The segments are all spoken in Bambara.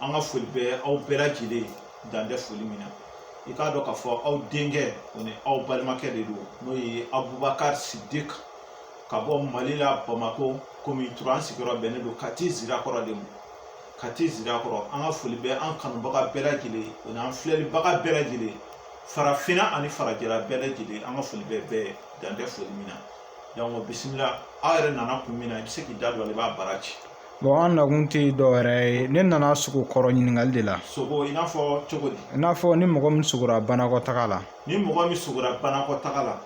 an ka foli bɛ aw bɛɛ lajɛlen dan tɛ foli min na i k'a dɔn k'a fɔ aw denkɛ o ni aw balimakɛ de don n'o ye abubakari sidik ka bɔ mali la bamakɔ komi tura an sigiyɔrɔ bɛnnen don kati zirakɔrɔ de ma kati zirakɔrɔ an ka foli bɛ an kanubaga bɛɛ lajɛlen o n'an filɛlibaga bɛɛ lajɛlen farafinna ani farajɛla bɛɛ lajɛlen an ka foli bɛ bɛɛ dan tɛ foli min na donc bisimila aw yɛrɛ nana kun min na i bɛ se k'i da don a la i b'a baara ci an nakun tɛ dɔwɛrɛ ye ne nana sogo kɔrɔ ɲininkali de la sogo i n'a fɔ cogo di i n'a fɔ ni mɔgɔ min sogora banakɔtaga la ni mɔgɔ min sogora banakɔtaga la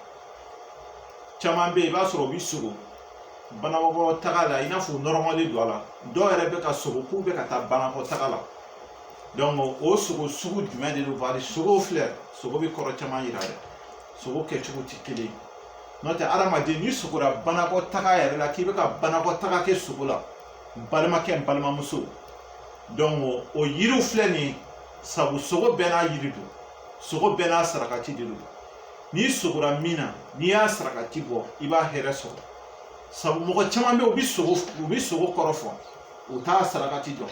caman bɛ yen i b'a sɔrɔ u bɛ sogo banakɔtaga la i n'a fɔ u nɔrɔmalen don a la dɔw yɛrɛ bɛ ka sogo k'u bɛ ka taa banakɔtaga la donc o sogo sugu jumɛn de don bari sogo filɛ sogo bɛ kɔrɔ caman yira dɛ sogo kɛcogo tɛ kelen ye n'o tɛ adamaden n'i sogora banakɔtaga yɛrɛ la k'i bɛ ka banakɔtaga kɛ sogo la n balimakɛ n balimamuso donc o yiriw filɛ nin ye sabu sogo bɛɛ n'a yiri don sogo bɛɛ n'a sarakati de don n'i sogora min na n'i y'a sarakati bɔ i b'a hɛrɛ sɔrɔ sabu mɔgɔ caman bɛ yen u bɛ sogo kɔrɔ fɔ u t'a sarakati dɔn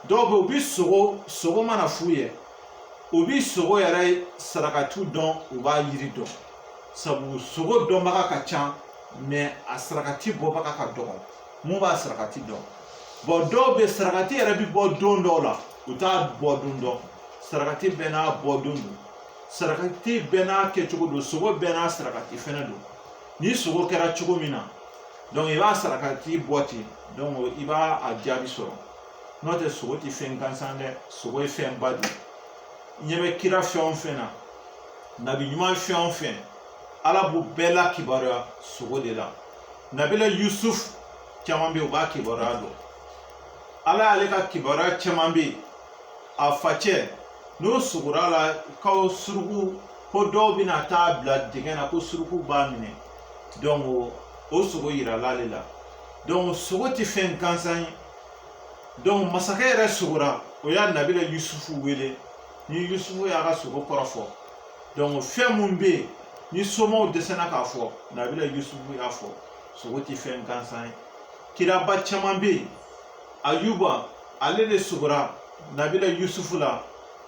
dɔw bɛ yen u bɛ sogo sogo mana f'u ye u bi sogo yɛrɛ sarakati dɔn u b'a yiri dɔn sabu sogo dɔnbaga ka ca mais a sarakati bɔbaga ka dɔgɔ mun b'a sarakati dɔn bon dɔw bɛ sarakati yɛrɛ bi bɔ don dɔw la u t'a bɔ don dɔn sarakati bɛɛ n'a bɔ don don sarakati bɛɛ n'a kɛcogo don sogo bɛɛ n'a sarakati fɛnɛ don ni sogo kɛra cogo min na donc i b'a sarakati bɔ ten donc i b'a a jaabi sɔrɔ n'o tɛ sogo ti fɛn gansan dɛ sogo ye fɛn ba de ye ɲɛ bɛ kira fɛn o fɛn na nabi ɲuman fɛn o fɛn ala b'u bɛɛ la kibaruya sogo de la nabila yusuf caman bɛ yen u b'a kibaruya dɔn ala y'ale ka kibaruya caman bɛ yen a facɛ n'o sogora la ko suruku ko dɔw bɛna t'a bila dingɛ na ko suruku b'a minɛ donc o sogo yirala ale la donc sogo tɛ fɛn gansan ye masakɛ yɛrɛ sogora o y'a nabila yusufu wele ni yusufu y'a ka sogo kɔrɔ fɔ donc fɛn mun bɛ yen ni somaw dɛsɛra k'a fɔ nabila yusufu y'a fɔ sogo ti fɛn gansan ye kiraba caman bɛ yen ayuba ale de sogora nabila yusufu la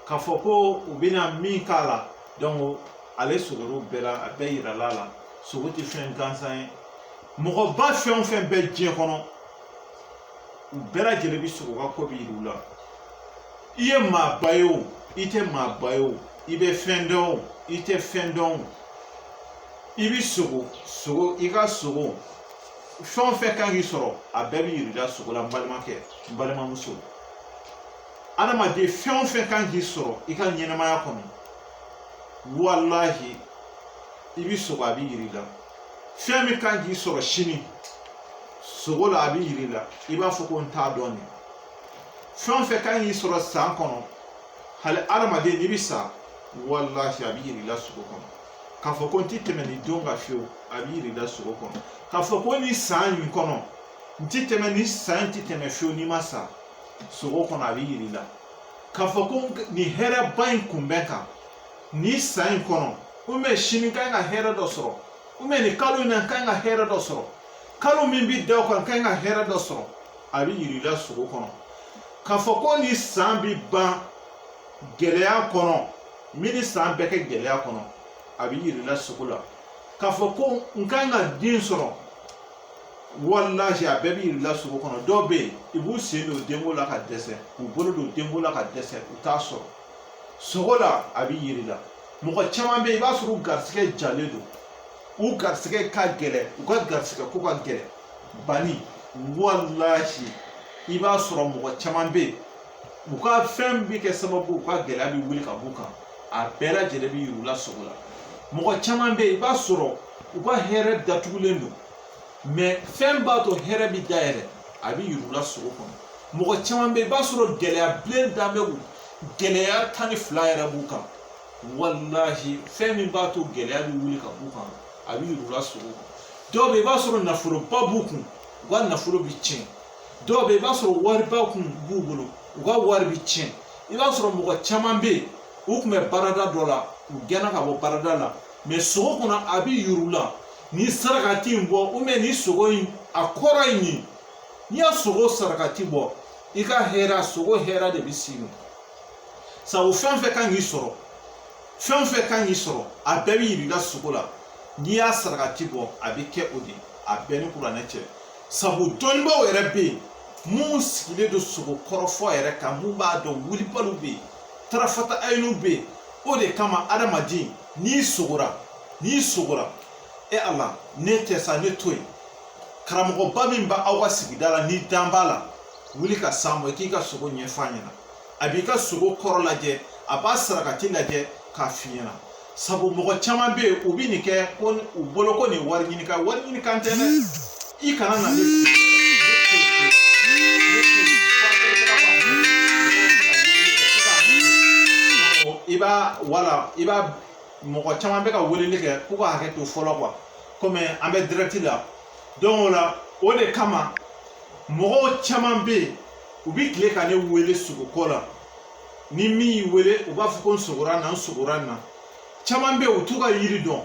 k'a fɔ ko u bɛna min k'a la donc ale sogora o bɛɛ la a bɛɛ yirala a la sogo ti fɛn gansan ye mɔgɔba fɛn o fɛn bɛ diɲɛ kɔnɔ u bɛɛ lajɛlen bɛ sogo u ka ko bɛ yir'u la i ye maaba ye o i tɛ maaba ye o i bɛ fɛn dɔn o i tɛ fɛn dɔn o i bɛ sogo sogo i ka sogo fɛn o fɛn kan k'i sɔrɔ a bɛɛ bɛ yir'i la sogo la n balimakɛ n balimamuso adamaden fɛn o fɛn kan k'i sɔrɔ i ka ɲɛnamaya kɔnɔ walahi i bɛ sogo a bɛ yir'i la fɛn min kan k'i sɔrɔ sini sogo la a bɛ yir'i la i b'a fɔ ko n t'a dɔn nin fɛn o fɛn kan k'i sɔrɔ san kɔnɔ hali adamaden n'i bɛ sa walahi a bɛ yir'i la sogo kɔnɔ k'a fɔ ko n tɛ tɛmɛ nin don kan fiyewu a bɛ yir'i la sogo kɔnɔ k'a fɔ ko nin san in kɔnɔ n tɛ tɛmɛ nin san in tɛ tɛmɛ fiyewu n'i ma sa sogo kɔnɔ a bɛ yir'i la k'a fɔ ko nin hɛrɛba in kunbɛn kan nin san in kɔnɔ ubiyɛn sini n ka ɲi ka hɛrɛ dɔ sɔrɔ ubiyɛn nin kalo in na n ka ɲi ka hɛrɛ dɔ sɔrɔ kalo min bi da o kan n ka ɲi ka hɛrɛ dɔ sɔrɔ a bi yir'i la sogo kɔnɔ k'a fɔ ko nin san bi ban gɛlɛya kɔnɔ n bi nin san bɛɛ kɛ gɛlɛya kɔnɔ a bi yir'i la sogo la k'a fɔ ko n ka ɲi ka den sɔrɔ walahi a bɛɛ bɛ yir'i la sogo kɔnɔ dɔw bɛ yen u b'u sen don denko la ka dɛsɛ k'u bolo don denko la ka dɛsɛ u t'a sɔrɔ sogo la a bɛ yir'i la mɔgɔ caman bɛ yen i b'a sɔrɔ u garisigɛ jalen don u garisigɛ ka gɛlɛn u ka garisigɛ ko ka gɛlɛn bani walahi i b'a sɔrɔ mɔgɔ caman bɛ yen u ka fɛn bɛ kɛ sababu u ka gɛlɛya bɛ wuli ka b'u kan a bɛɛ lajɛlen bɛ yir'u la sogo la mɔgɔ caman bɛ yen i b'a sɔrɔ u ka hɛrɛ datugulen don fɛn b'a to hɛrɛ bɛ dayɛlɛ a bɛ yir'u la sogo kɔnɔ mɔgɔ caman bɛ yen i b'a sɔrɔ gɛlɛya bilen dan bɛ u gɛlɛya tan ni fila yɛrɛ b'u kan walahi fɛn min b'a to gɛlɛya bɛ wuli ka b'u kan a bɛ yir'u la sogo kɔnɔ dɔw bɛ yen i b'a sɔrɔ nafoloba b'u kun u ka nafolo bɛ tiɲɛ dɔw bɛ yen i b'a sɔrɔ wariba kun b'u bolo u ka wari bɛ tiɲɛ i b'a sɔrɔ mɔgɔ caman bɛ yen u tun bɛ baarada dɔ la u gɛnna ka bɔ baarada la mɛ sogo kɔnɔ a bɛ yir'u la ni sarakati in bɔ ubiyɛn ni sogo in a kɔrɔ ye nin n'i y'a sogo sarakati bɔ i ka hɛrɛ sogo hɛrɛ de bɛ s'i ma sabu fɛn o fɛn kan k'i sɔrɔ fɛn fɛn kan k'i sɔrɔ a bɛɛ bɛ yir'i ka sogo la n'i y'a sarakati bɔ a bɛ kɛ o de ye a bɛɛ ni kuranɛ cɛ sabu dɔnnibaaw yɛrɛ bɛ yen min sigilen don sogo kɔrɔfɔ yɛrɛ kan mun b'a dɔn wulibaliw bɛ yen tarafata ayiniw bɛ yen o de kama adamaden n'i sogora n'i sogora e ala ne tɛ sa ne to yen karamɔgɔba min bɛ aw ka sigida la n'i dalen b'a la wuli ka s'a ma i k'i ka sogo ɲɛfɔ a ɲɛna a b'i ka sogo kɔrɔ lajɛ a b'a sarakati lajɛ k'a f'i ɲɛna sabu mɔgɔ caman bɛ yen u bɛ nin kɛ ko u bolo ko nin wari ɲini kan wari ɲini kan tɛ dɛ i kana na ne i b'a wala i b'a mɔgɔ caman bɛ ka weleli kɛ k'u ka hakɛ to fɔlɔ kuwa komi an bɛ dirɛti la don o la o de kama mɔgɔw caman bɛ yen u bɛ tile ka ne wele sugoko la ni min y'i wele u b'a fɔ ko n sugora na n sugora na caman bɛ yen u t'u ka yiri dɔn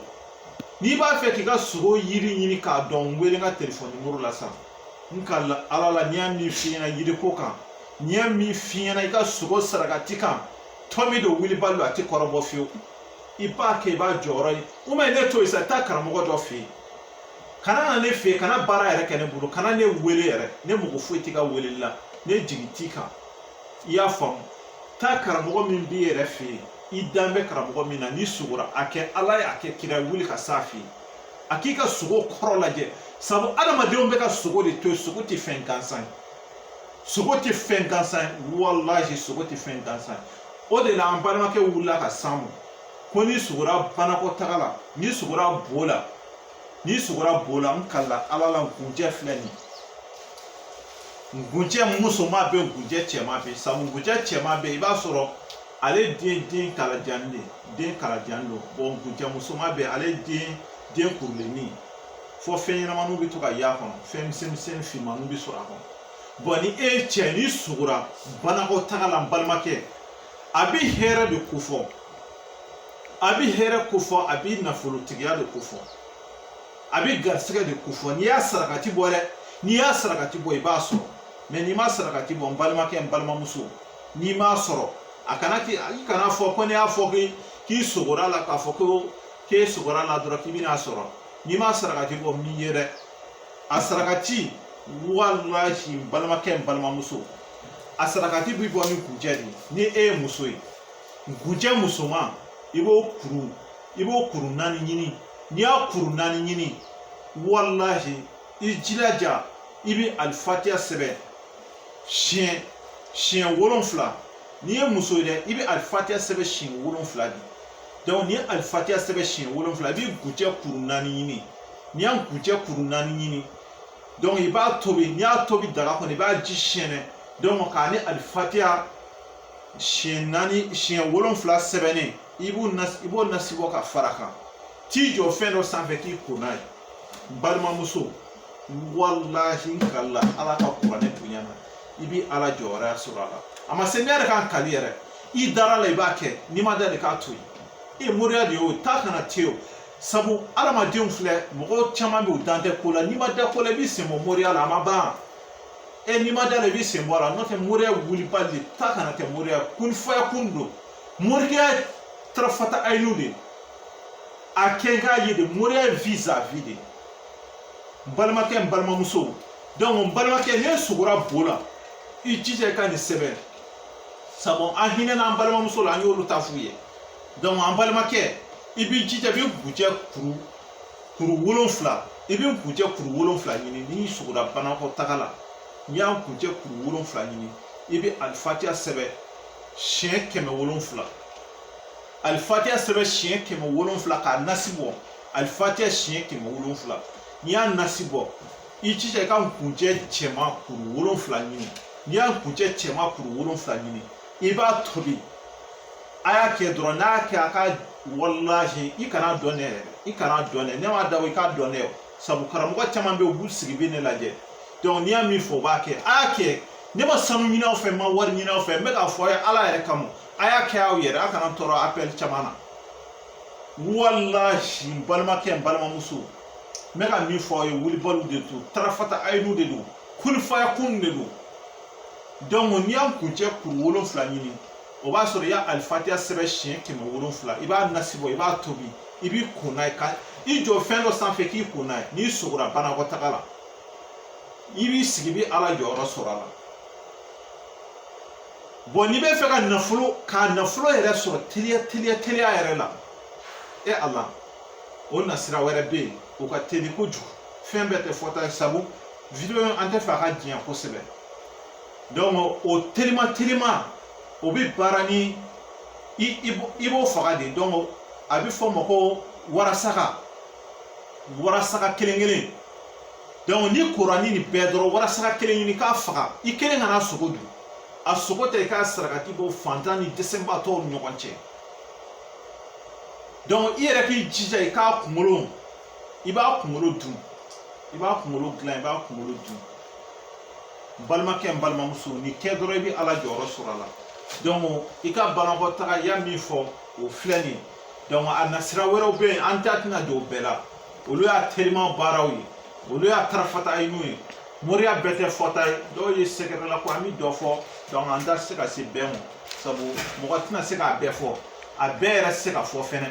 n'i b'a fɛ k'i ka sugo yiri ɲini k'a dɔn n wele n ka telefɔni nimoro la sisan n kalila ala la n'i y'a min f'i ɲɛna yiriko kan n'i y'a min f'i ɲɛna i ka sogo sarakati kan tɔmi don wulibali don a tɛ kɔrɔbɔ fiyewu i b'a kɛ i b'a jɔyɔrɔ ye u ma ne to yen sa taa karamɔgɔ dɔ fɛ yen kana na ne fɛ yen kana baara yɛrɛ kɛ ne bolo kana ne wele yɛrɛ ne mago foyi t'i ka weleli la ne jigi t'i kan i y'a faamu taa karamɔgɔ min b'i yɛrɛ fɛ yen i dan bɛ karamɔgɔ min na n'i sugora a kɛ ala ye a kɛ kira ye wuli ka s'a fɛ yen a k'i ka sogo kɔrɔ lajɛ sabu adamadenw bɛ ka sogo de to yen sogo tɛ fɛn gansan ye sogo tɛ fɛn gansan ye walahi sogo tɛ fɛn gansan ye o de la an balimakɛ wulila ka s'an ma ko n'i sugora banakɔtaga la n'i sugora bo la n'i sugora bo la n kalila ala la nkunjɛ filɛ nin ye nkunjɛ musoman bɛ nkunjɛ cɛman bɛ sabu nkunjɛ cɛman bɛ i b'a sɔrɔ ale den den kalajan de den kalajan don bɔn nkunjɛ musoman bɛ ale den den kurulenni fɔ fɛn ɲɛnamaniw bɛ to ka y'a kɔnɔ fɛn misɛn misɛnnin finmaniw bɛ sɔrɔ a kɔnɔ bɔn ni e ye cɛ n'i sugora banakɔtaga la n balimakɛ a bɛ hɛrɛ de kofɔ a bi hɛrɛ kofɔ a bi nafolotigiya de kofɔ a bi garisigɛ de kofɔ n'i y'a sarakati bɔ dɛ n'i y'a sarakati bɔ i b'a sɔrɔ mɛ n'i ma sarakati bɔ n balimakɛ n balimamuso n'i m'a sɔrɔ a kana k'i i kana fɔ ko ne y'a fɔ k'i k'i sogora la k'a fɔ ko k'e sogora la dɔrɔn k'i bɛna sɔrɔ n'i ma sarakati bɔ min ye dɛ a sarakati walahi n balimakɛ n balimamuso a sarakati bi bɔ ni nkunjɛ de ye ni e ye muso ye Nkunjɛ musoman i b'o kuru i b'o kuru naani ɲini n'i y'a kuru naani ɲini walahi i jilaja i bɛ alifatiya sɛbɛn siɲɛ siɲɛ wolonfila n'i ye muso ye dɛ i bɛ alifatiya sɛbɛn siɲɛ wolonfila de dɔnku n'i ye alifatiya sɛbɛn siɲɛ wolonfila i bɛ nkunjɛ kuru naani ɲini n'i ye nkunjɛ kuru naani ɲini dɔnku i b'a tobi n'i y'a tobi daga kɔnɔ i b'a ji sɛɛnɛ dɔnku k'a ni alifatiya siɲɛ wolonfila sɛbɛnnen i b'o nasi bɔ ka fara kan t'i jɔ fɛn dɔ sanfɛ k'i ko n'a ye n balimamuso walahi n kalila ala ka kuranɛ bonya na i bi ala jɔyɔrɔ sɔrɔ a la a ma se ne yɛrɛ ka n kali yɛrɛ i dara la i b'a kɛ n'i ma da la k'a to yen e moriya de y'o taa ka na tɛ o sabu adamadenw filɛ mɔgɔ caman bɛ u dan tɛ ko la n'i ma da ko la i b'i sen bɔ moriya la a ma ban e n'i ma da la i b'i sen bɔ a la n'o tɛ moriya wulibali de taa ka na tɛ moriya kunifaya kun don moriya tarafata ayinu de a kɛ k'a ye de moriya ye vis a vis de n balimakɛ n balimamuso donc n balimakɛ n'e sogora bo la i jija i ka nin sɛbɛn sabu an hinɛna an balimamuso la an y'olu ta f'u ye donc an balimakɛ i b'i jija i bɛ nkunjɛ kuru kuru wolonfila i bɛ nkunjɛ kuru wolonfila ɲini n'i sogora banakɔtaga la n'i y'a nkunjɛ kuru wolonfila ɲini i bɛ alifatiya sɛbɛn siɲɛ kɛmɛ wolonfila alifatiya sɛbɛn siɲɛ kɛmɛ wolonfila k'a nasi bɔ alifatiya siɲɛ kɛmɛ wolonfila n'i y'a nasi bɔ i jija i ka nkunjɛ cɛman kuru wolonfila ɲini n'i y'a nkunjɛ cɛman kuru wolonfila ɲini i b'a tobi a y'a kɛ dɔrɔn n'a y'a kɛ a ka walahi i kana dɔn ne yɛrɛ i kana dɔn ne ne m'a dabɔ i k'a dɔn ne sabu karamɔgɔ caman bɛ yen u b'u sigi bɛ ne lajɛ donc n'i y'a min fɔ u b'a kɛ a y'a kɛ ne ma sanu ɲini aw fɛ n ma wari ɲini aw fɛ n bɛ k'a fɔ aw ye ala yɛrɛ kama a y'a kɛ aw yɛrɛ a kana tɔɔrɔ appel caman na walahi n balimakɛ n balimamuso n bɛ ka min fɔ aw ye wulibaliw de don tarafata ayinu de don kunifaya kun de don n'i y'a nkunjɛ kuru wolonfila ɲini o b'a sɔrɔ i y'a alifatiya sɛbɛn siɲɛ kɛmɛ wolonfila i b'a nasi bɔ i b'a tobi i b'i ko n'a ye ka i jɔ fɛn dɔ sanfɛ k'i ko n'a ye n'i sogora banakɔtaga la i b'i sigi i bɛ ala jɔyɔrɔ sɔrɔ a la bon n'i bɛ fɛ ka nafolo ka nafolo yɛrɛ sɔrɔ teliya teliya teliya yɛrɛ la e a la o nasira wɛrɛ bɛ yen o ka teli kojugu fɛn bɛɛ tɛ fɔta ye sabu video an t'a fɛ a ka janya kosɛbɛ donc o teliman teliman o bɛ baara ni i b'o faga de donc a bɛ fɔ o ma ko warasaka warasaka kelen kelen donc n'i kora ni nin bɛɛ dɔrɔn warasaka kelen ɲini k'a faga i kelen kana a sogo dun a sogo tɛ i k'a sarakati bɔ fantan ni dɛsɛbaatɔw ni ɲɔgɔn cɛ donc i yɛrɛ k'i jija i k'a kunkolo i b'a kunkolo dun i b'a kunkolo dilan i b'a kunkolo dun n balimakɛ n balimamuso nin kɛ dɔrɔn i bɛ ala jɔyɔrɔ sɔrɔ a la donc i ka banakɔtaga i y'a min fɔ o filɛ nin ye donc a nasira wɛrɛw bɛ yen an da tɛna don o bɛɛ la olu y'a telima baaraw ye olu y'a tarafata ayini ye moriya bɛɛ tɛ fɔta ye dɔw ye sɛgɛrɛla ko an bɛ dɔ fɔ donc an tɛ se ka se bɛɛ ma sabu mɔgɔ tɛna se k'a bɛɛ fɔ a bɛɛ yɛrɛ se ka fɔ fɛnɛ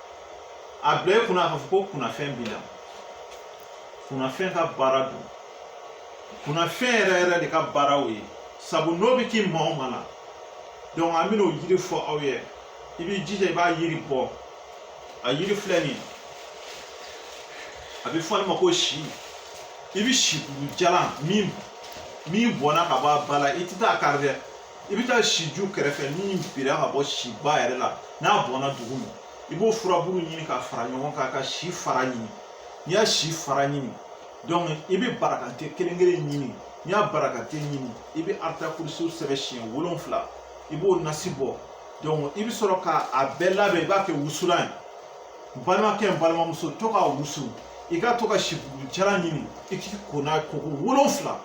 a bila i kunna k'a fɔ ko kunnafɛn b'i la kunnafɛn ka baara don kunnafɛn yɛrɛ yɛrɛ de ka baara o ye sabu n'o bɛ kɛ maa o maa la donc an bɛna o yiri fɔ aw ye i b'i jija i b'a yiri bɔ a yiri filɛ nin ye a bɛ fɔ ale ma ko si i bɛ si bulu jalan min min bɔnna ka bɔ a ba la i tɛ taa kari dɛ i bɛ taa si ju kɛrɛfɛ min bira ka bɔ si ba yɛrɛ la n'a bɔnna dugu ma i b'o furabulu ɲini ka fara ɲɔgɔn kan ka si fara ɲini n'i y'a si fara ɲini donc i bɛ barakante kelen kelen ɲini n'i y'a barakante ɲini i bɛ aratakurusi sɛbɛn siɲɛ wolonfila i b'o nasi bɔ donc i bɛ sɔrɔ k'a bɛɛ labɛn i b'a kɛ wusulan ye balimakɛ n balimamuso to k'a wusu i ka to ka si bulu jalan ɲini i k'i ko n'a ye koko wolonfila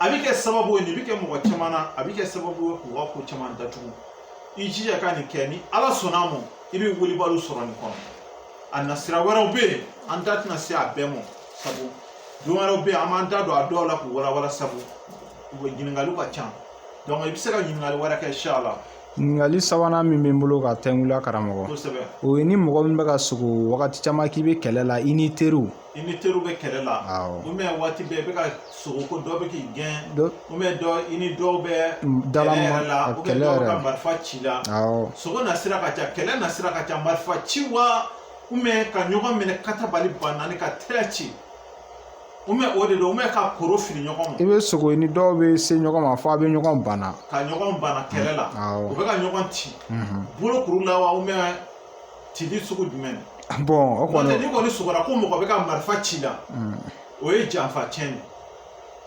a bɛ kɛ sababu ye nin bɛ kɛ mɔgɔ caman na a bɛ kɛ sababu ye k'u ka ko caman datugu i jija ka nin kɛ ni ala sɔnna a ma i bɛ wilibaliw sɔrɔ nin kɔnɔ a nasira wɛrɛw bɛ yen an da tɛna se a bɛɛ ma sabu don wɛrɛw bɛ yen an b'an da don a dɔw la k'u walawala sabu ɲininkaliw ka ca donc i bɛ se ka ɲininkali wɛrɛ kɛ inshallah ɲininkali sabanan min bɛ n bolo ka tɛnkula karamɔgɔ o ye ni mɔgɔ min bɛ ka sogo wagati caman k'i bɛ kɛlɛ la i n'i teriw i ni teriw bɛ kɛlɛ la ou bien waati bɛɛ i bɛ ka sogo ko dɔ bɛ k'i gɛn ou bien dɔ i ni dɔw bɛ kɛlɛ yɛrɛ la ou bien dɔw bɛ ka marifa ci i la sogo nasira ka ca kɛlɛ nasira ka ca marifa ci wa ou bien ka ɲɔgɔn minɛ katabali ba naani ka tɛrɛ ci ou bien o de don ou bien ka koro fili ɲɔgɔn ma i bɛ sogo i ni dɔw bɛ se ɲɔgɔn ma fo a bɛ ɲɔgɔn bana ka ɲɔgɔn bana kɛlɛ la u bɛ ka ɲɔgɔn ci bolokuru la wa ou bien cili sugu jumɛn bon o kɔni n'i kɔni sogora ko mɔgɔ bɛ ka marifa ci la o ye janfa tiɲɛ ye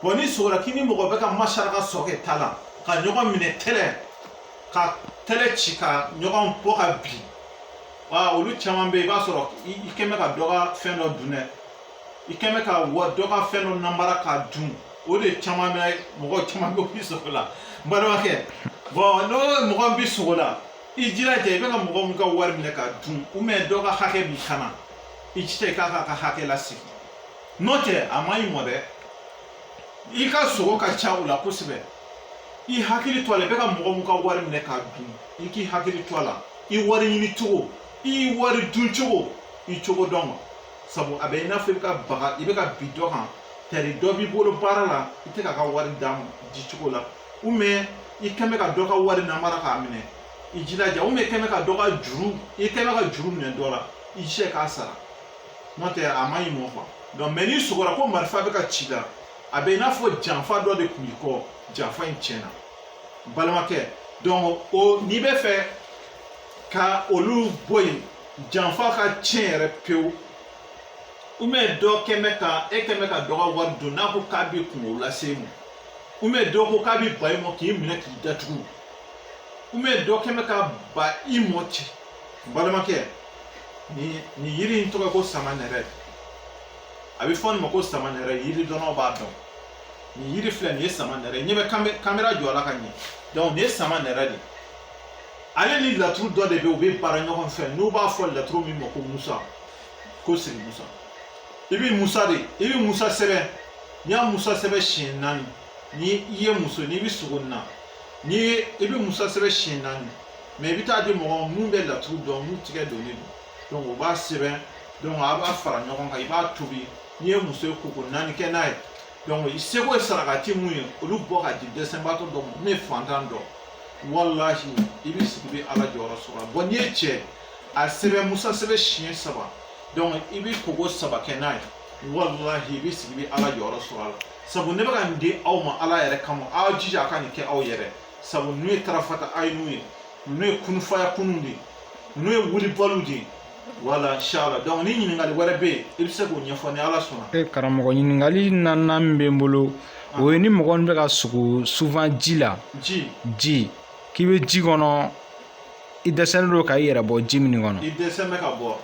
bon n'i sogora k'i ni mɔgɔ bɛ ka masara ka sɔkɛ ta la ka ɲɔgɔn minɛ tɛlɛ ka tɛlɛ ci ka ɲɔgɔn bɔ ka bin wa olu caman bɛ yen i b'a sɔrɔ i kɛlen bɛ ka dɔ ka fɛn dɔ dun dɛ i kɛlen bɛ ka dɔ ka fɛn dɔ namara k'a dun o de caman bɛ mɔgɔ caman bɛ bi sogo la n balimakɛ bon n'o mɔgɔ bi sogo la i jilaja i bɛ ka mɔgɔ min ka wari minɛ k'a dun ou bien dɔ ka hakɛ b'i kan na i jija i k'a k'a ka hakɛ lasegin n'o tɛ a man ɲi i mɔ dɛ i ka sugo ka ca o la kosɛbɛ i hakili to a la i bɛ ka mɔgɔ min ka wari minɛ k'a dun i k'i hakili to a la i wari ɲini cogo i wari dun cogo i cogo dɔn ma sabu a bɛ i n'a fɔ i bɛ ka baga i bɛ ka bin dɔ kan tari dɔ b'i bolo baara la i tɛ k'a ka wari d'a ma di cogo la ou bien i kɛn bɛ ka dɔ ka wari namara k'a minɛ i jilaja ou bien kɛn bɛ ka dɔ ka juru i kɛn bɛ ka juru minɛ dɔ la i jija k'a sara n'o tɛ a man ɲi i mɔ quoi donc mais n'i sugora ko marifa bɛ ka ci i la a bɛ i n'a fɔ janfa dɔ de kun b'i kɔ janfa in tiɲɛna balimakɛ donc o n'i b'a fɛ ka olu bɔ yen janfa ka tiɲɛ yɛrɛ pewu ou bien dɔ kɛn bɛ ka e kɛn bɛ ka dɔ ka wari dun n'a ko k'a bɛ kunko lase e ma ou bien dɔ ko k'a bɛ ba i mɔ k'i minɛ k'i datugu ou bien dɔ kɛn bɛ ka ba i mɔ ten balimakɛ nin nin yiri in tɔgɔ ko samanɛrɛ a bɛ fɔ nin ma ko samanɛrɛ yiri dɔnnaw b'a dɔn nin yiri filɛ nin ye samanɛrɛ ɲɛ bɛ kamera jɔ a la ka ɲɛ donc nin ye samanɛrɛ de ale ni laturu dɔ de bɛ u bɛ baara ɲɔgɔn fɛ n'u b'a fɔ laturu min ma ko musa ko siri musa i bɛ musa de i bɛ musa sɛbɛn n'i y'a musa sɛbɛn siɲɛ naani ni i ye muso n'i bɛ sugo na n'i ye i bɛ musa sɛbɛn siɲɛ naani mais i bɛ taa di mɔgɔ mun bɛ laturu dɔn mun tigɛ donnen don o b'a sɛbɛn a b'a fara ɲɔgɔn kan i b'a tobi n'i ye muso ye koko naani kɛ n'a ye i seko ye sarakati mun ye olu bɔ ka di dɛsɛbaatɔ dɔ ma min ye fantan dɔ walahi i bɛ sigi i bɛ ala jɔyɔrɔ sɔrɔ n'i ye cɛ a sɛbɛn musa sɛbɛn siɲɛ saba i bɛ koko saba kɛ n'a ye walahi i bɛ sigi i bɛ ala jɔyɔrɔ sɔrɔ a la sabu ne bɛ ka nin di aw ma ala yɛrɛ kama aw jija a ka nin kɛ aw yɛrɛ sabu ninnu ye tarafata ayinu ye ninnu ye kunufaya kunun de ye ninnu ye wulibaliw de ye wala inshallah donc ni ɲininkali wɛrɛ bɛ yen i bɛ se k'o ɲɛfɔ ni ala sɔnna e karamɔgɔ ɲininkali naaninan min bɛ n bolo ah. o ye ni mɔgɔ min bɛ ka sugo souvent ji la ji ji k'i bɛ ji kɔnɔ i dɛsɛlen don ka i yɛrɛ bɔ ji min kɔnɔ i dɛsɛlen bɛ ka bɔ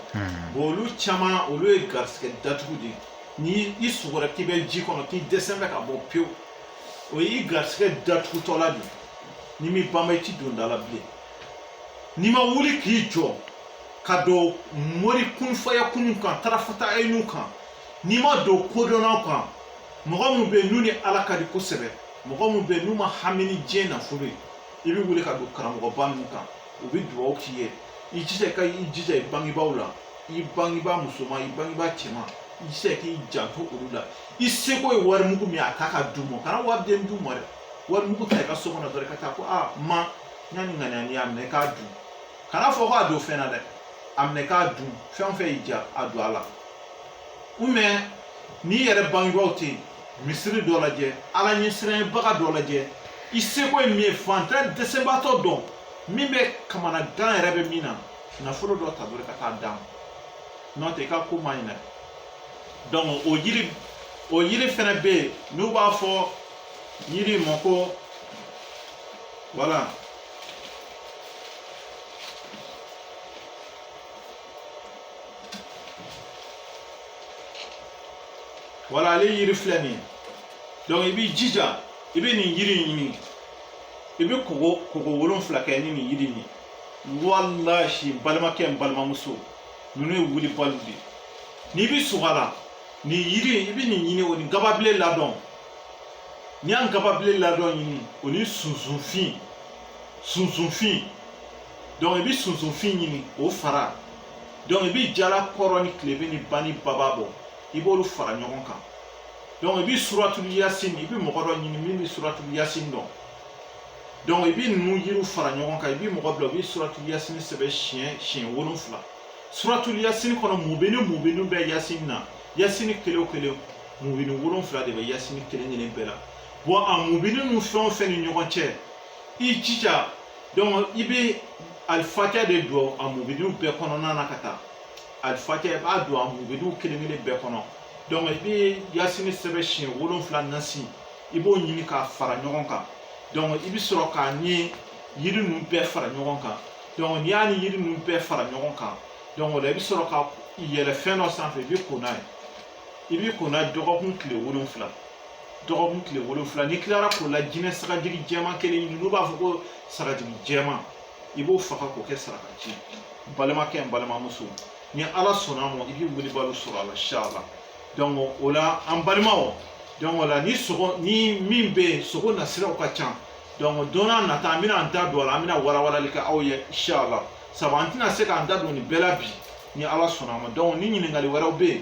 bon olu caman olu ye garisigɛ datugu de ye ni i sugora k'i bɛ ji kɔnɔ k'i dɛsɛlen bɛ ka bɔ pewu o y'i garisigɛ datugutɔla de ye n'i m'i banba i ti don da la bilen n'i ma wuli k'i jɔ ka don mori kunfaya kunun kan tarafata ayinu kan n'i ma don kodɔnnaw kan mɔgɔ minnu bɛ yen n'u ni ala ka di kosɛbɛ mɔgɔ minnu bɛ yen n'u ma hami ni diɲɛ nafolo ye i bɛ wuli ka don karamɔgɔba ninnu kan u bɛ dugawu k'i ye i jija ka i jija i bangebaaw la i bangebaa musoman i bangebaa cɛman i jija k'i janto olu la i seko ye wari mugu min ye a ta ka d'u ma kana wari den d'u ma dɛ wari mugu ta i ka so kɔnɔ dɔrɔn ka taa ko aa ma n y'a ni ŋaniya ni y'a minɛ k'a dun kana fɔ k'a don fɛn na dɛ a minɛ k'a dun fɛn o fɛn y'i diya a don a la n'i yɛrɛ bangebaaw tɛ yen misiri dɔ lajɛ ala ɲɛsiranɲɛbaga dɔ lajɛ i seko ye min ye fantan dɛsɛbaatɔ dɔn min bɛ kamana gan yɛrɛ bɛ min na nafolo dɔ ta dɔrɔn ka taa d'a ma n'o tɛ i ka ko man ɲi dɛ donc o yiri o yiri fɛnɛ bɛ yen n'u b'a fɔ yiri ma ko voilà voilà ale yiri filɛ nin ye donc i b'i jija i bɛ nin yiri in ɲini i bɛ koko koko wolonfila kɛ ni nin yiri in ye walahi n balimakɛ n balimamuso ninnu ye wulibaliw de ye n'i bɛ siga a la nin yiri in i bɛ nin ɲini o ni gababilen ladon n'i ye gababilen ladon ɲini o ni sunsunfin sunsunfin donc i bɛ sunsunfin ɲini o fara i bɛ jala kɔrɔn ni tilebin ni bani baba bɔ i b'olu fara ɲɔgɔn kan donc i bɛ suratulu yasin i bɛ mɔgɔ dɔ ɲini min bɛ suratulu yasin dɔn donc i bɛ ninnu yiriw fara ɲɔgɔn kan i bɛ mɔgɔ bila u bɛ suratulu yasin sɛbɛn siɲɛ siɲɛ wolonfila suratulu yasin kɔnɔ mubini mubini bɛ yasin na yasin kelen o kelen mubini wolonfila de bɛ yasin kelen kelen bɛɛ la a mubini ninnu fɛn o fɛn ni ɲɔgɔn cɛ i jija donc i bɛ alifatiya de don a mubiniw bɛɛ kɔnɔna na ka taa alifatiya i b'a don a mubiniw kelen kelen bɛɛ kɔnɔ donc i bɛ yasini sɛbɛn siɲɛ wolonfila nasi i b'o ɲini k'a fara ɲɔgɔn kan donc i bɛ sɔrɔ k'a ni yiri ninnu bɛɛ fara ɲɔgɔn kan donc n'i y'a ni yiri ninnu bɛɛ fara ɲɔgɔn kan donc o la i bɛ sɔrɔ ka yɛlɛ fɛn dɔ sanfɛ i bɛ ko n'a ye i bɛ ko n'a ye dɔgɔkun tile wolonfila dɔgɔkun tile wolonfila n'i tilara ko la jinɛ sagajigi jɛman kelen ɲini n'u b'a fɔ ko sagajigi jɛman i b'o faga k'o kɛ saraka ci n balimakɛ n balimamuso ni ala sɔnna a ma i bɛ wulibaliw sɔrɔ a la inshallah donc o la an balimaw donc o la ni sogo ni min bɛ yen sogo nasiraw ka ca donc don n'a nata an bɛna an da don a la an bɛna walawalali kɛ aw ye inshallah sabu an tɛna se k'an da don nin bɛɛ la bi ni ala sɔnna a ma donc ni ɲininkali wɛrɛw bɛ yen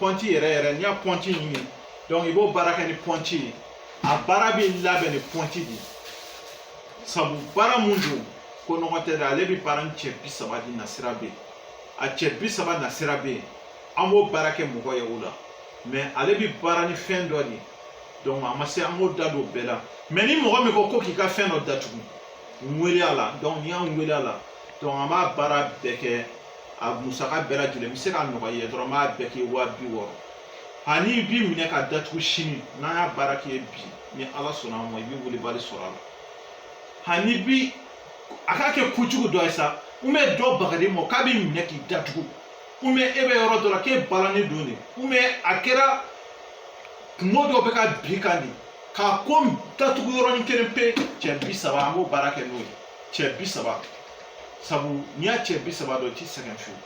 pɔnti yɛrɛ yɛrɛ n'i y'a pɔnti ɲini donc i b'o baara kɛ ni pɔnti ye a baara bɛ labɛn ni pɔnti de ye sabu baara mun don ko nɔgɔ tɛ dɛ ale bɛ baara ni cɛ bi saba de nasira bɛ yen a cɛ bi saba nasira bɛ yen an b'o baara kɛ mɔgɔ ye o la mais ale bɛ baara ni fɛn dɔ de ye donc a ma se an k'o da don bɛɛ la mais ni mɔgɔ min ko ko k'i ka fɛn dɔ datugu n wele a la donc n'i y'an wele a la donc an b'a baara bɛɛ kɛ a musaka bɛɛ lajɛlen n bɛ se k'a nɔgɔya i ye dɔrɔn n b'a bɛɛ kɛ waa bi wɔɔrɔ hani i bi minɛ ka datugu sini n'an y'a baara kɛ bi ni ala sɔnna a ma i bɛ welebali sɔrɔ a la hani bi a k'a kɛ kojugu dɔ ye sa ou bien dɔ bagara i ma k'a b'i minɛ k'i datugu ou bien e bɛ yɔrɔ dɔ la k'e balannen don de ou bien a kɛra kunko dɔ bɛ ka bin i kan de k'a ko datugu yɔrɔnin kelen pe cɛ bi saba an b'o baara kɛ n'o ye cɛ bi saba sabu n'i y'a cɛ bi saba dɔn i ti sɛgɛn fiyewu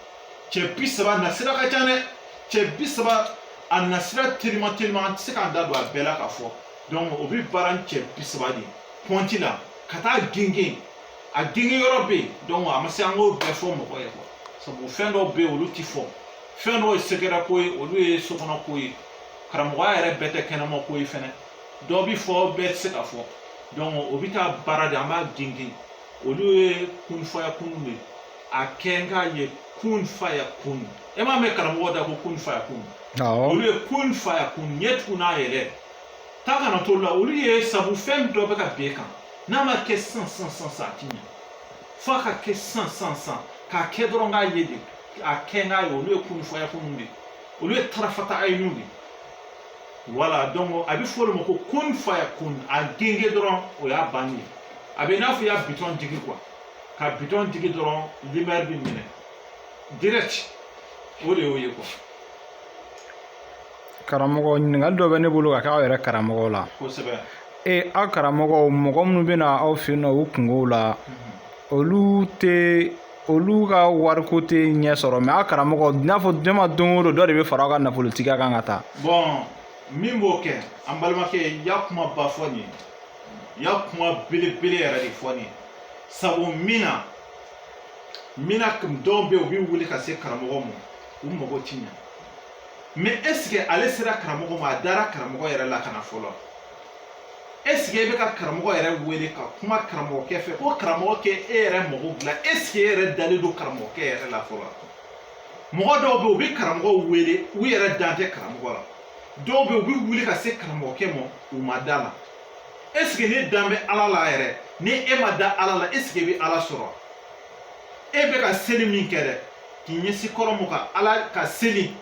cɛ bi saba nasira ka ca dɛ cɛ bi saba a nasira telima telima an tɛ se k'an da don a bɛɛ la k'a fɔ donc o bɛ baara ni cɛ bi saba de pɔnti la ka taa gengen a gengen yɔrɔ bɛ yen donc a ma se an k'o bɛɛ fɔ mɔgɔ ye quoi sabu fɛn dɔw bɛ yen olu ti fɔ fɛn dɔw ye secret ko ye olu ye sokɔnɔ ko ye karamɔgɔya yɛrɛ bɛɛ tɛ kɛnɛma ko ye fɛnɛ dɔ bi fɔ bɛɛ tɛ se ka fɔ donc o bɛ taa baara de an b'a gengen olu ye kun faya kun de ye a kɛ n k'a ye kun faya kun e m'a mɛn karamɔgɔ da ko kun faya kun olu ye kun faya kun ɲɛ tugu n'a yɛlɛ ta kana to la olu ye sabu fɛn dɔ bɛ ka bin e kan n'a ma kɛ sisan sisan sisan sisan a ti ɲɛ f'a ka kɛ sisan sisan sisan k'a kɛ dɔrɔn k'a ye de a kɛ n k'a ye olu ye kun faya kun de ye olu ye tarafata ayinu de ye voilà donc a bɛ fɔ olu ma ko kun faya kun a gengen dɔrɔn o y'a bannen ye a bɛ i n'a fɔ i y'a bitɔn digi quoi ka bitɔn digi dɔrɔn lumière bɛ mɛnɛ direct o de y'o ye quoi. karamɔgɔ ɲininkali dɔ bɛ ne bolo ka kɛ aw yɛrɛ karamɔgɔw la. kosɛbɛ. ee aw karamɔgɔw mɔgɔ minnu bɛ na aw fɛ yen nɔ u kunkow la mhm. olu tɛ. olu ka wariko tɛ ɲɛ sɔrɔ mais aw karamɔgɔ i n'a fɔ ne ma don o don dɔ de bɛ fara aw ka nafolotigiya kan ka taa bon mun b'o kɛ an balimakɛ i y'a kuma ba fɔ nin ye i y'a kuma belebele yɛrɛ de fɔ nin ye sabu mun na mun na dɔw bɛ yen u bɛ wuli ka se karamɔgɔ ma u mago ti ɲɛ mais est-ce que ale sera karamɔgɔ ma a dara karamɔgɔ yɛrɛ la ka na fɔlɔ est-ce que e bɛ ka karamɔgɔ yɛrɛ wele ka kuma karamɔgɔkɛ fɛ ko karamɔgɔ k'e yɛrɛ mago dilan est-ce que e yɛrɛ dalen don karamɔgɔkɛ yɛrɛ la fɔlɔ mɔgɔ dɔw bɛ yen u bɛ karamɔgɔw wele u yɛrɛ dan tɛ karamɔgɔ la dɔw bɛ yen u bɛ wuli ka se karamɔgɔkɛ ma u ma da a la est-ce que ne dan bɛ ala la yɛrɛ ni e ma da ala la est-ce que e bɛ ala sɔrɔ e bɛ ka seli min kɛ dɛ k'i ɲɛsin kɔrɔn ma ka ala ka seli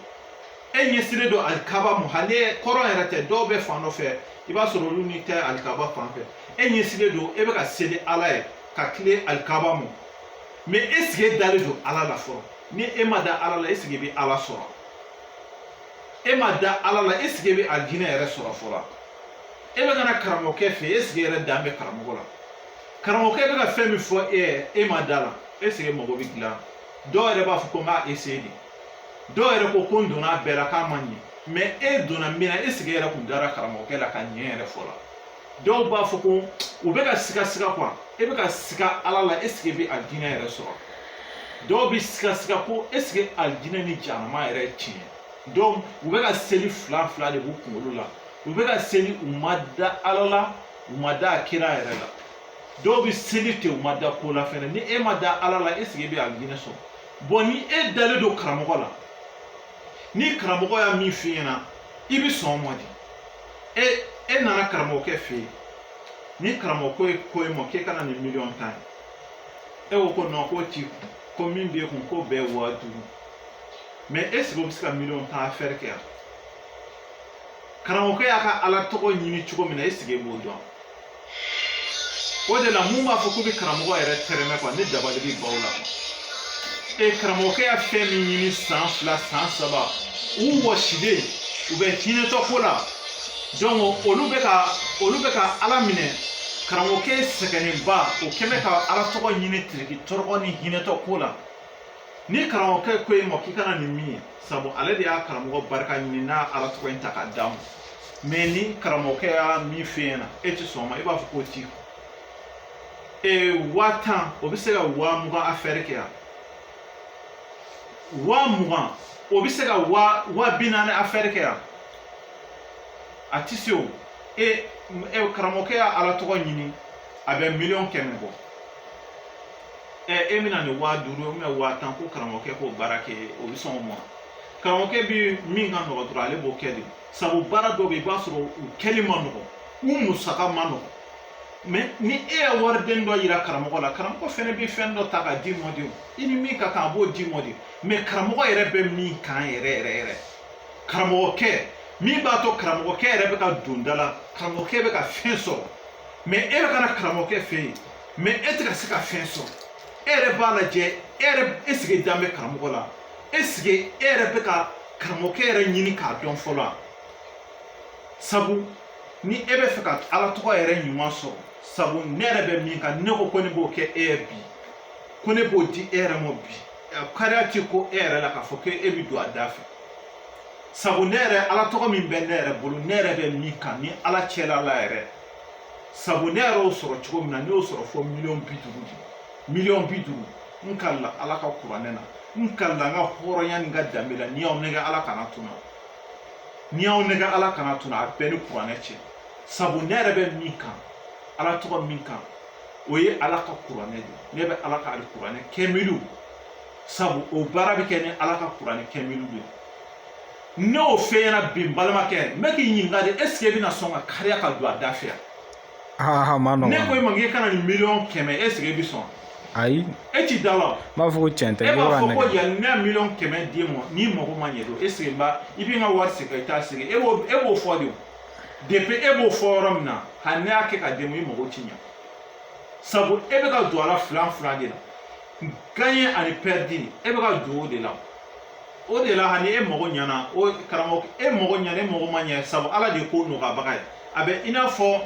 e ɲɛsilen don alikaba ma hali kɔrɔn yɛrɛ tɛ dɔw bɛ fan dɔ fɛ i b'a sɔrɔ olu ni tɛ alikaba fan fɛ e ɲɛsilen don e bɛ ka seli ala ye ka tilen alikaba ma mais est-ce que e dalen don ala la fɔlɔ ni e ma da ala la est-ce que e bɛ ala sɔrɔ e ma da ala la est-ce que e bɛ alijinɛ yɛrɛ sɔrɔ fɔlɔ e bɛ ka na karamɔgɔkɛ fɛ est-ce que e yɛrɛ dan bɛ karamɔgɔ la karamɔgɔkɛ bɛ ka fɛn min fɔ e ye e ma da la est-ce que mago bɛ dilan dɔw yɛrɛ b'a fɔ ko n b'a essayer de dɔw yɛrɛ ko ko n donna a bɛɛ la k'a ma ɲɛ mais e donna min na est-ce que e yɛrɛ kun dara karamɔgɔkɛ la ka ɲɛ yɛrɛ fɔlɔ dɔw b'a fɔ ko u bɛ ka siga siga quoi e bɛ ka siga ala la est-ce que e bɛ alijinɛ yɛrɛ sɔrɔ dɔw bɛ siga siga ko est-ce que alijinɛ ni jahanama yɛrɛ tiɲɛ donc u bɛ ka seli fila fila de b'u kunkolo la u bɛ ka seli u ma da ala la u ma da a kira yɛrɛ la dɔw bɛ seli ten u ma da ko la fɛnɛ ni e ma da ala la est-ce que e bɛ alijinɛ sɔrɔ bon ni e dalen don karamɔgɔ la ni karamɔgɔ y'a min f'i ɲɛna i bi sɔn o ma de e e nana karamɔgɔkɛ fɛ yen ni karamɔgɔ ko ye ko e ma k'e ka na nin miliyɔn tan ye e ko ko non k'o t'i kun ko min b'e kun k'o bɛɛ waa duuru mais est-ce que o bɛ se ka miliyɔn tan affaire kɛ yan karamɔgɔkɛ y'a ka ala tɔgɔ ɲini cogo min na est-ce que e b'o dɔn o de la mun b'a fɔ k'u bɛ karamɔgɔ yɛrɛ tɛrɛmɛ quoi ne dabali bɛ ban u la ee karamɔgɔkɛ y'a fɛn min ɲini san fila san saba u wɔsilen u bɛ hinɛtɔ ko la donc olu bɛ ka olu bɛ ka ala minɛ karamɔgɔkɛ sɛgɛnnenba o kɛ bɛ ka ala tɔgɔ ɲini tiriki tɔrɔgɔ ni hinɛtɔ ko la ni karamɔgɔkɛ ko e ma k'i ka na nin min ye sabu ale de y'a karamɔgɔ barika ɲini n'a ala tɔgɔ in ta k'a d'a ma mais ni karamɔgɔkɛ y'a min f'e ɲɛna e ti sɔn o ma i b'a fɔ k'o t'i kun ee waa tan o bɛ se ka waa mugan affaire kɛ yan waa mugan o bɛ se ka waa waa bi naani affaire kɛ yan a ti se o e e karamɔgɔkɛ y'a ala tɔgɔ ɲini a bɛ miliyɔn kɛmɛ bɔ e bɛ na nin waa duuru ye waa tan ko karamɔgɔkɛ k'o baara kɛ o bɛ sɔn o ma karamɔgɔkɛ bɛ min ka nɔgɔ dɔrɔn ale b'o kɛ de sabu baara dɔ bɛ yen i b'a sɔrɔ u kɛli man nɔgɔ u musaka man nɔgɔ mais ni e ye wariden dɔ yira karamɔgɔ la karamɔgɔ fɛnɛ bɛ fɛn dɔ ta k'a d'i ma de i ni min ka kan a b'o d'i ma de mais karamɔgɔ yɛrɛ bɛ min kan yɛrɛ yɛrɛ yɛrɛ karamɔgɔkɛ min b'a to karamɔgɔkɛ yɛrɛ bɛ ka don da la karamɔgɔkɛ bɛ ka fɛn sɔrɔ mais e bɛ ka na karamɔgɔkɛ fɛ yen mɛ e tɛ ka se ka fɛn sɔrɔ e yɛrɛ b'a lajɛ e yɛrɛ eseke dan bɛ karamɔgɔ la eseke e yɛrɛ bɛ ka karamɔgɔkɛ yɛrɛ ɲini k'a dɔn fɔlɔ a sabu ni e bɛ fɛ ka ala tɔgɔ yɛrɛ ɲuman sɔrɔ sabu ne yɛrɛ bɛ min kan ne ko ko ne b'o kɛ e ye bi ko ne b'o di e yɛrɛ ma bi kariya ti ko e yɛrɛ la k'a fɔ ko e bɛ don a da fɛ sabu ne yɛrɛ ala tɔgɔ min bɛ ne yɛrɛ bolo ne yɛrɛ bɛ min kan ni ala cɛla la yɛrɛ sabu ne yɛrɛ y'o sɔrɔ cogo min na ne y'o sɔrɔ fo miliyɔn bi duuru de miliyɔn bi duuru n kalila ala ka kuranɛ na n kalila n ka hɔrɔnya ni n ka danbe la ni n y'aw nɛgɛn ala kana to n na ni n y'aw nɛgɛn ala kana to n na a bɛ n ni kuranɛ cɛ sabu ne yɛrɛ bɛ min kan ala tɔgɔ min kan o ye ala ka kuranɛ de ne bɛ ala ka alikuranɛ kɛmiliw sabu o baara bɛ kɛ ni ala ka kuranɛ kɛmiliw de ye n'o fɛn ɲɛna bi n balimakɛ n bɛ k'i ɲininka de eseke e bɛna sɔn ka kariya ka don a da fɛ yan ne ko e ma k'e ka na ni miliyɔn kɛmɛ eseke e bɛ sɔn ayi e ti da la n b'a fɔ ko cɛn tɛ e b'a fɔ ko yan ne ye miliyɔn kɛmɛ d'i ma n'i mago ma ɲɛ don eseke n ba i bɛ n ka wari segin i t'a segin e b'o e b'o fɔ de depi e b'o fɔ yɔrɔ min na hali ne y'a kɛ ka d'e ma i mago ti ɲɛ sabu e bɛ ka don a la filan filan de la gaɲɛ ani pɛridi e bɛ ka don o de la o de la hali e mago ɲɛna o karamɔgɔ e mago ɲɛna e mago ma ɲɛ sabu ala de ye ko nɔgɔyabaga ye a bɛ i n'a fɔ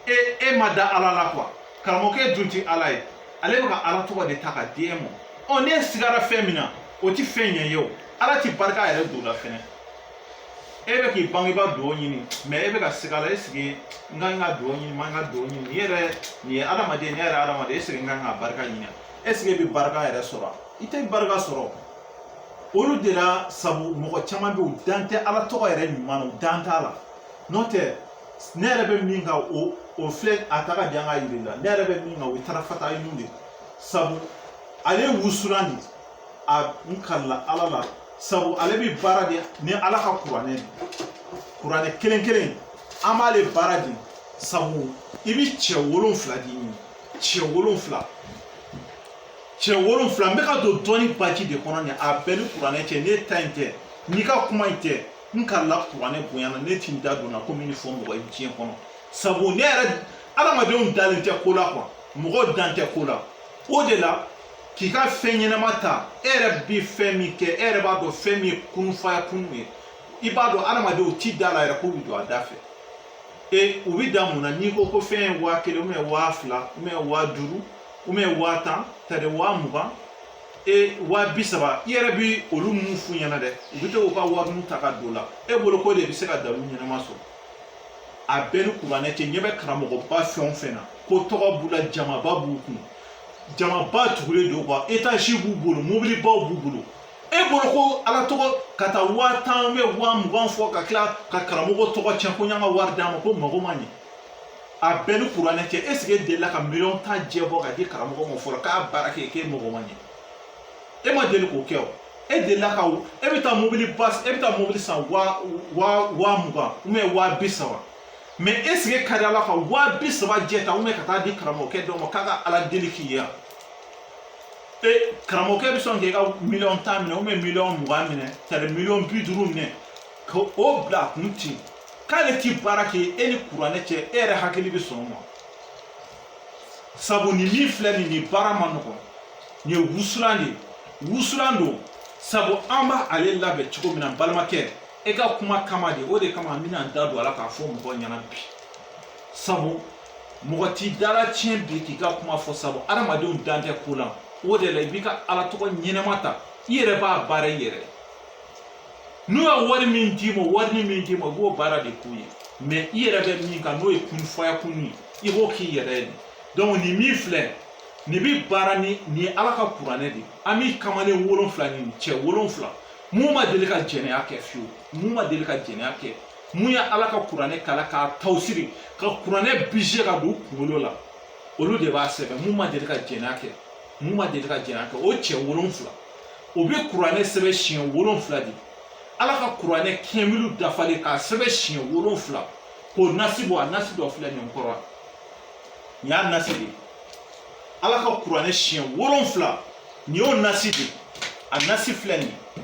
e e ma da ala la kuwa karamɔgɔkɛ dun ti ala ye ale bɛ ka ala tɔgɔ de ta ka di e ma ɔ n'e sigara fɛn min na o ti fɛn ɲɛ ye o ala ti barika yɛrɛ don la fɛnɛ e bɛ k'i bangebaa dugawu ɲini mɛ e bɛ ka siga la eseke n ka n ka dugawu ɲini n ma n ka dugawu ɲini nin yɛrɛ nin ye adamaden ne yɛrɛ adamaden eseke n ka n ka barika ɲini eseke e bɛ barika yɛrɛ sɔrɔ i tɛ barika sɔrɔ olu de la sabu mɔgɔ caman bɛ yen u dan tɛ ala tɔgɔ yɛrɛ ɲuman na u dan t'a la n'o tɛ ne yɛrɛ bɛ min kan o filɛ a ta ka di an ka yiri la ne yɛrɛ bɛ min kan o ye tarafata ɲun de sabu ale wusulan de a n kalila ala la sabu ale bi baara de ni ala ka kuranɛ de kuranɛ kelen kelen an b'ale baara de sabu i bi cɛ wolonfila de ɲini cɛ wolonfila cɛ wolonfila n bɛ ka don dɔɔni baji de kɔnɔ nin a bɛ n ni kuranɛ cɛ ne ta in tɛ n'i ka kuma in tɛ n kalila kuranɛ bonya na ne ti n da don na komi n fɔ mɔgɔ ye diɲɛ kɔnɔ sabu ne yɛrɛ adamadenw dalen tɛ ko la kuwa mɔgɔw dan tɛ ko la o de la k'i ka fɛn ɲɛnama ta e yɛrɛ bɛ fɛn min kɛ e yɛrɛ b'a dɔn fɛn min ye kunufaya kunu ye i b'a dɔn adamadenw ti da la yɛrɛ k'u bɛ don a da fɛ e u bɛ da mun na n'i ko ko fɛn ye waa kelen ubiyɛn waa fila ubiyɛn waa duuru ubiyɛn waa tan tari waa mugan e waa bi saba i yɛrɛ bi olu mun f'u ɲɛna dɛ u bɛ to k'u ka wariw ta ka don o la e bolo ko de bɛ se ka dalu ɲɛnama sɔrɔ a bɛɛ ni kuranɛ cɛ ɲɛ bɛ karamɔgɔba fɛn o fɛn na ko tɔgɔ b'u la jamaba b'u kun jamaba tugulen don kuwa etazi b'u bolo mobilibaw b'u bolo e bolo ko ala tɔgɔ ka taa waa tan ubiyɛn waa mugan fɔ ka tila ka karamɔgɔ tɔgɔ tiɲɛ k'an y'an ka wari d'a ma ko mago ma ɲɛ a bɛɛ ni kuranɛ cɛ ɛsike e delila ka miliyɔn tan jɛ bɔ ka di karamɔgɔ ma fɔlɔ k'a baara kɛ k'e mago ma ɲɛ e ma deli k'o kɛ o e delila ka e bɛ taa mobili ba e bɛ taa mobili san waa waa waa mugan ubiyɛn waa bi saba mɛ ɛsike e delila ka waa bi saba jɛ ta ubiyɛn ka taa di karamɔgɔkɛ dɔ ma k'a ka ala deli k'i ye e karamɔgɔkɛ bɛ sɔn k'i ka miliyɔn tan minɛ ubiyɛn miliyɔn mugan minɛ tari miliyɔn bi duuru minɛ ka o bila a kun ten k'ale ti baara kɛ e ni kuranɛ cɛ e yɛrɛ hakili bɛ sɔn o ma sabu nin min filɛ nin nin baara man nɔgɔn nin ye wusulan de ye wusulan don sabu an b'ale labɛn cogo min na n balimakɛ e ka kuma kama de o de kama n bɛna n da don a la k'a fɔ mɔgɔw ɲɛna bi sabu mɔgɔ t'i dala tiɲɛ bi k'i ka kuma fɔ sabu adamadenw dan tɛ ko la o de la i b'i ka ala tɔgɔ ɲɛnama ta i yɛrɛ b'a baara i yɛrɛ ye n'u ye wari min d'i ma wari ni min d'i ma i b'o baara de k'u ye mɛ i yɛrɛ bɛ min kan n'o ye kun fayakun ye i b'o k'i yɛrɛ ye donc nin min filɛ nin bɛ baara ni nin ye ala ka kuranɛ de an bɛ kamalen wolonfila ɲini cɛ wolonfila mun ma deli ka jɛnɛya kɛ fiyewu mun ma deli ka jɛnɛya kɛ mun ye ala ka kuranɛ kalan k'a tawusiri ka kuranɛ bise ka don kunkolo la olu de b'a sɛbɛn mun ma deli ka jɛnɛya kɛ mun ma deli ka jɛnɛya kɛ o cɛ wolonfila o bɛ kuranɛ sɛbɛn siɲɛ wolonfila de ala ka kuranɛ kamilu dafalen k'a sɛbɛn siɲɛ wolonfila k'o nasi bɔ a nasi dɔ filɛ nin kɔrɔ nin y'a nasi de ye ala ka kuranɛ siɲɛ wolonfila nin y'o nasi de ye a nasi filɛ nin ye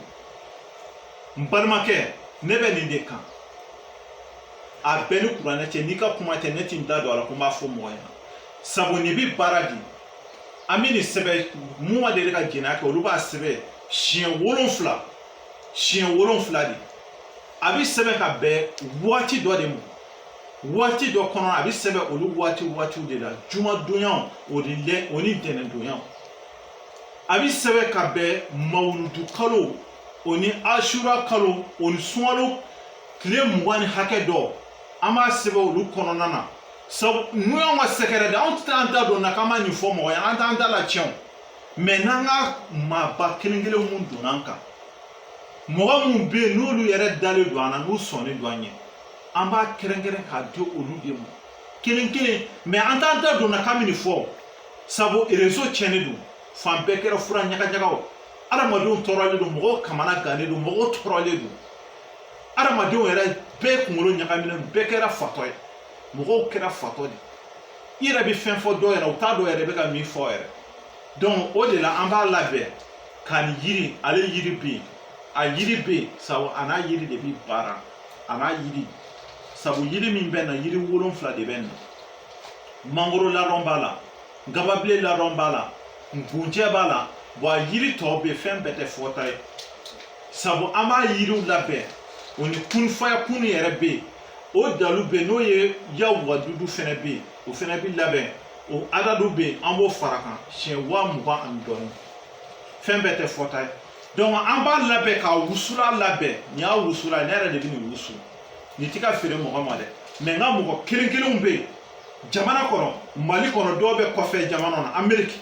n balimakɛ ne bɛ nin de kan a bɛɛ ni kuranɛ cɛ n'i ka kuma tɛ ne ti n da don a la ko n b'a fɔ mɔgɔ ɲɛna sabu nin bi baara di an bɛ nin sɛbɛn mun ma deli ka jɛnɛya kɛ olu b'a sɛbɛn siɲɛ wolonfila siɲɛ wolonfila de a bɛ sɛbɛn ka bɛn waati dɔ de ma waati dɔ kɔnɔ a bɛ sɛbɛn olu waati waatiw de la jumadonyaw o ni lɛ o ni ntɛnɛndonyaw a bɛ sɛbɛn ka bɛn mawuludu kalo o ni asura kalo o ni sunkalo tile mugan ni hakɛ dɔ an b'a sɛbɛn olu kɔnɔna na sabu n'u y'anw ka sɛgɛrɛ de anw tɛ an da don na k'an b'a ɲɛfɔ mɔgɔ ye an t'an da la tiɲɛ o mɛ n'an ka maaba kelen kelen mun donna an kan mɔgɔ minnu bɛ yen n'olu yɛrɛ dalen don an na n'u sɔnnen don an ye an b'a kɛrɛnkɛrɛn k'a di olu de ma kelen kelen mɛ an t'an da don na k'an bɛ nin fɔ sabu erezo tiɲɛnen don fan bɛɛ kɛra fura ɲagaɲagaw adamadenw tɔɔrɔlen don mɔgɔw kamana gannen don mɔgɔw tɔɔrɔlen don adamadenw yɛrɛ bɛɛ kunkolo ɲagaminen bɛɛ kɛra fatɔ ye mɔgɔw kɛra fatɔ de i yɛrɛ bɛ fɛn fɔ dɔw yɛrɛ u t'a dɔn yɛrɛ e bɛ ka min fɔ yɛrɛ donc o de la an b'a labɛn ka nin yiri ale yiri bɛ yen a yiri bɛ yen sabu a n'a yiri de bɛ baara a n'a yiri sabu yiri min bɛ na yiri wolonfila de bɛ na mangoro ladɔn b'a la gababile ladɔn b'a la ngunjɛ b'a la bɔn a yiri tɔw bɛ yen fɛn bɛɛ tɛ fɔta ye sabu an b'a yiriw labɛn o ni kun fayakun yɛrɛ bɛ yen o dalu bɛ yen n'o ye ya wadudu fɛnɛ bɛ yen o fɛnɛ bɛ labɛn o adadu bɛ yen an b'o fara kan siɲɛ waa mugan ani dɔɔni fɛn bɛɛ tɛ fɔta ye donc an b'a labɛn ka wusula labɛn nin y'a wusula ne yɛrɛ de bɛ nin wusu nin ti ka feere mɔgɔ ma dɛ mɛ n ka mɔgɔ kelen kelenw bɛ yen jamana kɔnɔ mali kɔnɔ dɔw bɛ kɔfɛ jamana na ameriki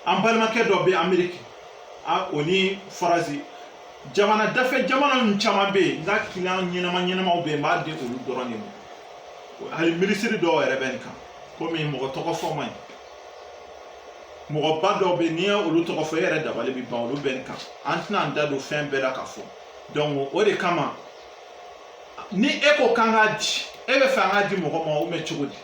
an balimakɛ dɔ bɛ ameriki o ni faransi jamana dafɛ jamana ninnu caman bɛ yen n ka kiliyan ɲɛnama ɲɛnamaw bɛ yen n b'a di olu dɔrɔn de ma hali minisiri dɔw yɛrɛ bɛ nin kan komi mɔgɔ tɔgɔ fɔ man ɲi mɔgɔba dɔw bɛ yen n'i ye olu tɔgɔ fɔ e yɛrɛ dabali bɛ ban olu bɛ nin kan an tɛna an da don fɛn bɛɛ la ka fɔ donc o de kama ni e ko k'an k'a di e bɛ fɛ an k'a di mɔgɔ ma ou bien cogo di.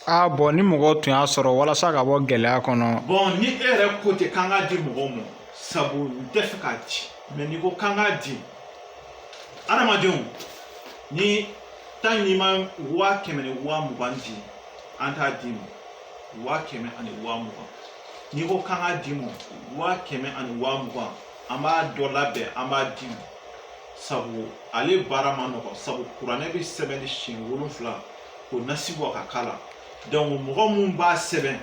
aa ah, bɔn ni mɔgɔw tun y'a sɔrɔ walasa ka bɔ gɛlɛya kɔnɔ. bɔn ni e yɛrɛ ko ten k'an k'a di mɔgɔw ma. sabu n tɛ fɛ k'a di mɛ n'i ko k'an k'a di adamadenw ni tan n'i ma waa kɛmɛ ni waa mugan di an t'a d'i ma waa kɛmɛ ani waa mugan n'i ko k'an k'a d'i ma waa kɛmɛ ani waa mugan an b'a dɔ labɛn an b'a d'i ma sabu ale baara man nɔgɔn sabu kuranɛ bɛ sɛbɛn de siɲɛ wolonfila k'o nasi bɔ ka k'a la donc mɔgɔ mun b'a sɛbɛn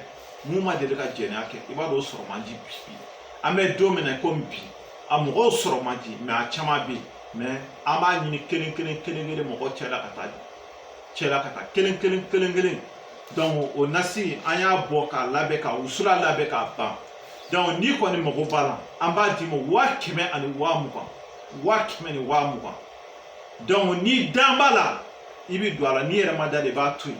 mun ma deli ka jɛnɛya kɛ i b'a dɔn o sɔrɔ man di bi an bɛ don min na komi bi a mɔgɔw sɔrɔ man di mɛ a caman bɛ yen mɛ an b'a ɲini kelen kelen kelen kelen mɔgɔw cɛla ka taa cɛla ka taa kelen kelen kelen kelen dɔnku o nasi an y'a bɔ k'a labɛn ka wusula labɛn k'a ban dɔnku n'i kɔni mago b'a la an b'a d'i ma waa kɛmɛ ani waa mugan waa kɛmɛ ni waa mugan dɔnku n'i dan b'a la i bɛ don a la n'i yɛrɛ ma da de i b'a to yen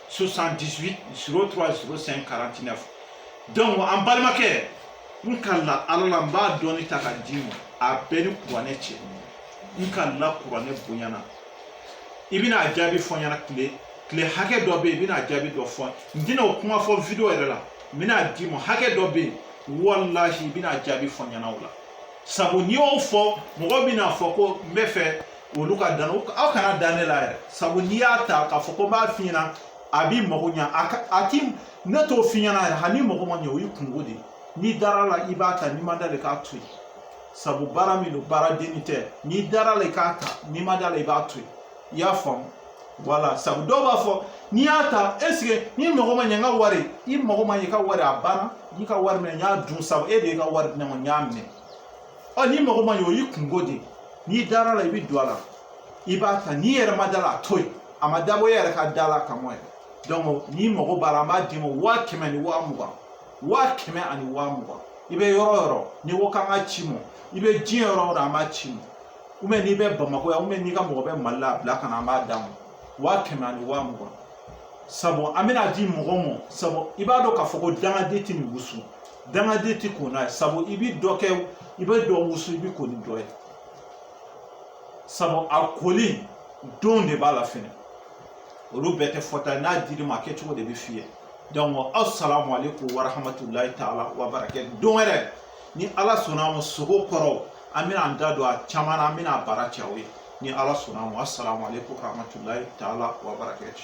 78 03 05 49 donc an balimakɛ n kalen ala la n b'a dɔɔni ta ka d'i ma a bɛ n ni kuranɛ cɛ n kalen kuranɛ bonya na i bɛna a jaabi fɔ n ɲɛna tile tile hakɛ dɔ bɛ yen i bɛna a jaabi dɔ fɔ n tɛna o kuma fɔ video yɛrɛ la n bɛna a d'i ma hakɛ dɔ bɛ yen walahi i bɛna a jaabi fɔ n ɲɛna o la sabu n'i y'o fɔ mɔgɔ bɛna a fɔ ko n b'a fɛ olu ka da n na aw kana da ne la yɛrɛ sabu n'i y'a ta k'a fɔ ko n b'a f'i ɲɛna a b'i mago ɲa a ka a ti ne t'o f'i ɲɛna yɛrɛ hal'i mago ma ɲɛ o y'i kunko de ye n'i dara a la i b'a ta n'i ma da a la i k'a to yen sabu baara min don baara denni tɛ n'i dara a la i k'a ta n'i ma da a la i b'a to yen i y'a faamu wala sabu dɔw b'a fɔ n'i y'a ta est-ce que n'i mago ma ɲɛ n ka wari i mago ma ɲɛ i ka wari a banna n y'i ka wari minɛ n y'a dun sabu e de y'i ka wari di ne ma n y'a minɛ ɔ n'i mago ma ɲɛ o y'i kunko de ye n'i dara a la i bɛ don a la i b'a ta n'i yɛrɛ ma da a la a to yen a ma dabɔ e yɛrɛ ka da a la kama yɛrɛ n'i mago b'a la an b'a d'i ma waa kɛmɛ ni waa mugan waa kɛmɛ ani waa mugan i bɛ yɔrɔ o yɔrɔ n'i ko k'an k'a c'i ma i bɛ diɲɛ yɔrɔ o yɔrɔ an b'a c'i ma ou bien n'i bɛ bamakɔ yan ou bien n'i ka mɔgɔ bɛ mali la a bila ka na an b'a d'a ma waa kɛmɛ ani waa mugan sabu an bɛna a di mɔgɔ ma sabu i b'a dɔn k'a fɔ ko dangaden tɛ nin wusu dangaden ti ko n'a ye sabu i bi dɔ kɛ i bɛ dɔ wusu i bi ko ni dɔ ye sabu a koli don de b'a la fɛnɛ olu bɛɛ tɛ fɔta ye n'a dir'i ma a kɛcogo de bɛ f'i ye donc asalamu aleykum warahamatulayi taala wa barakatu don wɛrɛ ni ala sɔnna a ma sogo kɔrɔ an bɛna an da don a caman na an bɛna a baara cɛ aw ye ni ala sɔnna a ma asalamu aleykum warahamatulayi taala wa barakatu